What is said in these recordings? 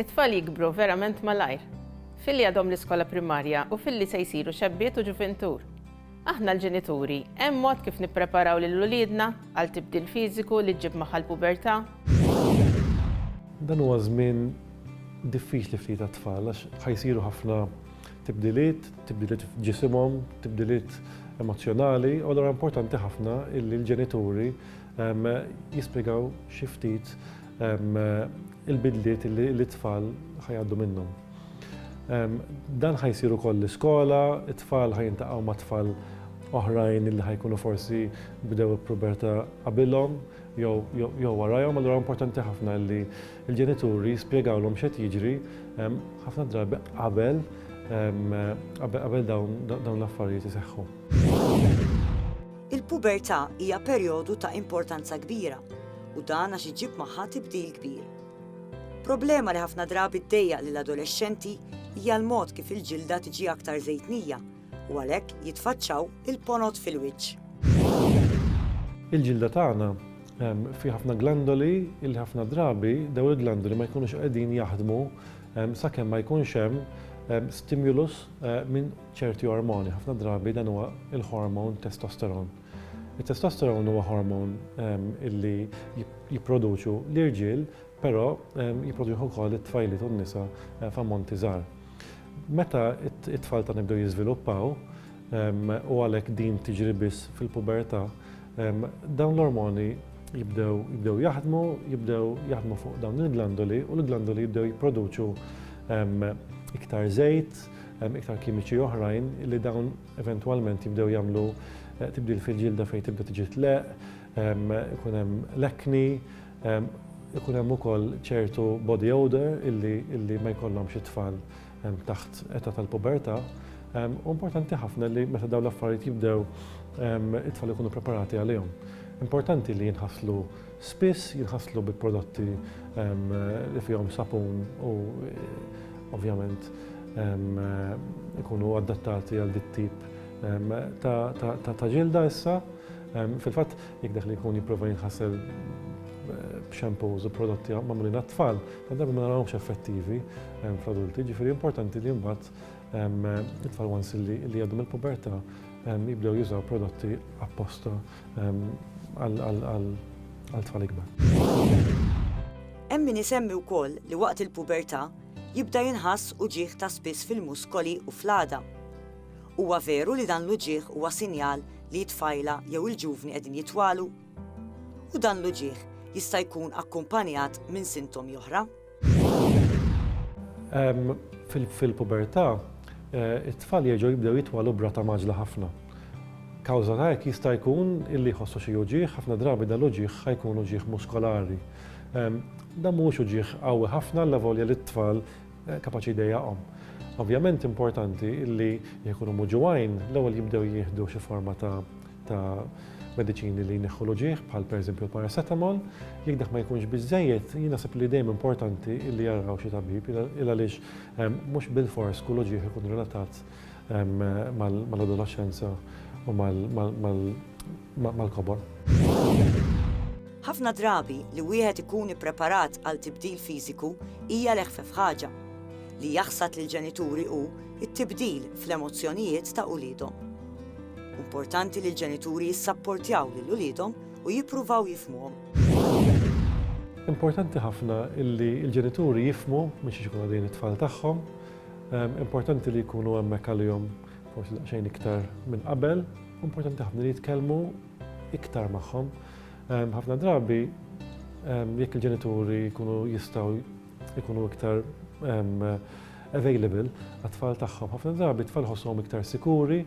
It-tfal jikbru verament malajr, filli għadhom l-iskola primarja u filli se jsiru xebbiet u ġuvintur. Aħna l-ġenituri, hemm mod kif nippreparaw lil uliedna għal tibdil fiżiku li ġġib magħha l-pubertà? Dan huwa żmien diffiċli ftit għat-tfal għax ħa jsiru ħafna tibdiliet, tibdiliet f'ġisimhom, tibdiliet emozzjonali, u allura importanti ħafna illi l-ġenituri jispjegaw xi ftit il-bidliet li t-tfal ħajaddu minnhom. Dan ħajsiru koll l-iskola, it-tfal ħajintaqgħu ma' tfal oħrajn li ħajkunu forsi bdew il-puberta qabilhom jew warajhom, allura importanti ħafna li l-ġenituri spjegawlhom x'qed jiġri ħafna drabi qabel qabel dawn l-affarijiet iseħħu. Il-pubertà hija perjodu ta' importanza kbira u dan għax iġġib magħha tibdil kbir. Problema li ħafna drabi ddejjaq lill-adolexxenti hija l-mod kif il-ġilda tiġi aktar żejtnija u għalhekk jitfaċċaw il-ponot fil-wiċċ. Il-ġilda tagħna fiha ħafna glandoli li ħafna drabi dawn il-glandoli ma jkunux qegħdin jaħdmu sakemm ma jkunx hemm stimulus minn ċerti ormoni, ħafna drabi dan huwa l-ħormon testosteron. It-testosteron huwa ħormon illi jipproduċu l-irġiel, però jipproduċu wkoll it-tfajliet u n-nisa eh, f'ammonti żgħar. Meta it-tfal ta' nibdew jiżviluppaw, u għalhekk din tiġri biss fil-pubertà, dawn l-ormoni jibdew jibdew jaħdmu, jibdew jaħdmu fuq dawn il-glandoli u l-glandoli jibdew jipproduċu iktar żejt, Hemm iktar kimiċi oħrajn li dawn eventwalment jibdew jagħmlu eh, tibdil fil-ġilda fejn tibda tiġi tleq, ehm, ikun hemm lekni, ehm, ikun hemm ukoll ċertu body odor illi, illi ma jkollhomx it-tfal ehm, taħt età tal-pubertà. Importanti ħafna li meta dawn l-affarijiet jibdew it-tfal ikunu preparati għalihom. Importanti li jinħaslu Spiss jinħaslu bi prodotti li fihom sapun u ovvjament ikunu adattati għal dik tip ta' ġilda issa. Fil-fatt, jekk dak li jkun jipprova jinħasel b'xampus u prodotti magħmulin għat-tfal, tant darba ma narawhomx effettivi fl-adulti, jiġifieri importanti li mbagħad it-tfal once li jgħaddu mill-pubertà jibdew jużaw prodotti apposta għal tfal ikbar. Hemm min isemmi wkoll li waqt il-pubertà jibda jinħass uġigħ ta' spiss fil-muskoli u fl-għada. Huwa veru li dan l-uġigħ huwa sinjal li t-tfajla jew il-ġuvni qegħdin jitwalu? U dan l-uġigħ jista' jkun akkumpanjat minn sintomi oħra? Fil-pubertà, eh, it-tfal jerġgħu jibdew jitwalu brata maġla ħafna. Kawża ta' hekk jista' jkun illi jħossu xi uġieħ, ħafna drabi dal-uġieħ ħajkun uġieħ muskolari. Dan mhuwiex uġieħ qawwi ħafna la volja li t-tfal eh, kapaċi jdejjaqhom. Ovvjament importanti illi jekk ikunu muġuwajn, l-ewwel jibdew jieħdu xi forma ta' ta' mediċini li jneħħu l-uġigħ bħal pereżempju l-paracetamol, jekk dak ma jkunx biżejjed, jien naħseb li dejjem importanti li jaraw xi tabib il għaliex ehm, mhux bil-fors kull uġigħ ikun relatat ehm, mal-adolescenza u mal-kobor. Ħafna drabi li wieħed ikun ippreparat għal tibdil fiżiku hija leħfef ħaġa. Li jaħsad lill-ġenituri hu it-tibdil fl-emozzjonijiet ta' uliedhom. Importanti li l-ġenituri jissapportjaw lil uliedhom u jippruvaw jifhmuhom. Importanti ħafna li l-ġenituri jifhmu minn xiex ikunu għaddejjin it-tfal tagħhom. Importanti li jkunu hemmhekk għalihom forsi daqsxejn iktar minn qabel. Importanti ħafna li jitkellmu iktar magħhom. Ħafna drabi jekk il-ġenituri jkunu jistgħu ikunu iktar available għat-tfal tagħhom. Ħafna drabi tfal ħossuhom iktar sikuri,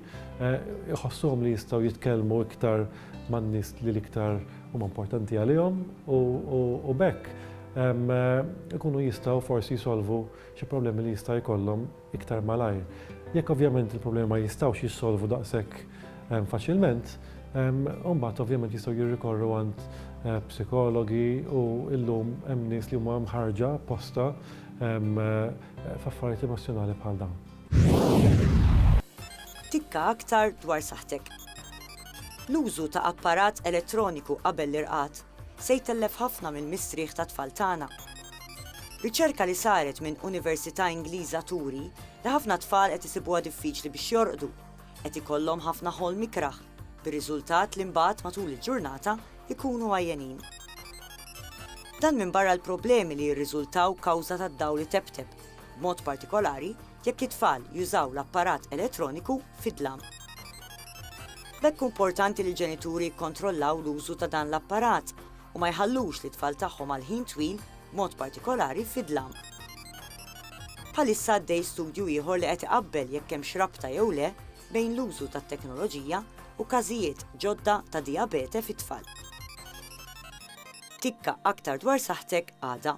jħossuhom eh, li jistgħu jitkellmu iktar man-nies li l-iktar huma importanti għalihom u bekk ikunu jistgħu forsi jisolvu xi problemi li jista' jkollhom iktar malajr. Jekk ovvjament il-problemi ma jistgħux jissolvu daqshekk ehm, faċilment, ehm, mbagħad ovvjament jistgħu jirrikorru għand eh, psikologi u illum hemm nies li huma mħarġa posta ehm, eh, f'affarijiet emozjonali bħal dawn. Tikka aktar dwar saħtek. L-użu ta' apparat elettroniku qabel l-irqad se jtellef ħafna mill-mistrieħ tat-tfal tagħna. Riċerka li saret minn Università Ingliża turi li ħafna tfal qed isibuha diffiċli biex jorqdu, qed ikollhom ħafna ħolm ikrah, bir-riżultat li mbagħad matul il-ġurnata jkunu għajjenin. Dan minbarra l-problemi li jirriżultaw kawża tad-dawl itebteb, b'mod partikolari jekk it-tfal jużaw l-apparat elettroniku fid-dlam. B'hekk hu importanti li l-ġenituri jikkontrollaw l-użu ta' dan l-apparat u ma jħallux lit-tfal tagħhom għal ħin twil, b'mod partikolari fid-dlam. Bħalissa għaddej studju ieħor li qed iqabbel jekk hemmx rabta jew le bejn l-użu tat-teknoloġija u każijiet ġodda ta' dijabete fit-tfal. Tikka aktar dwar saħħtek għada.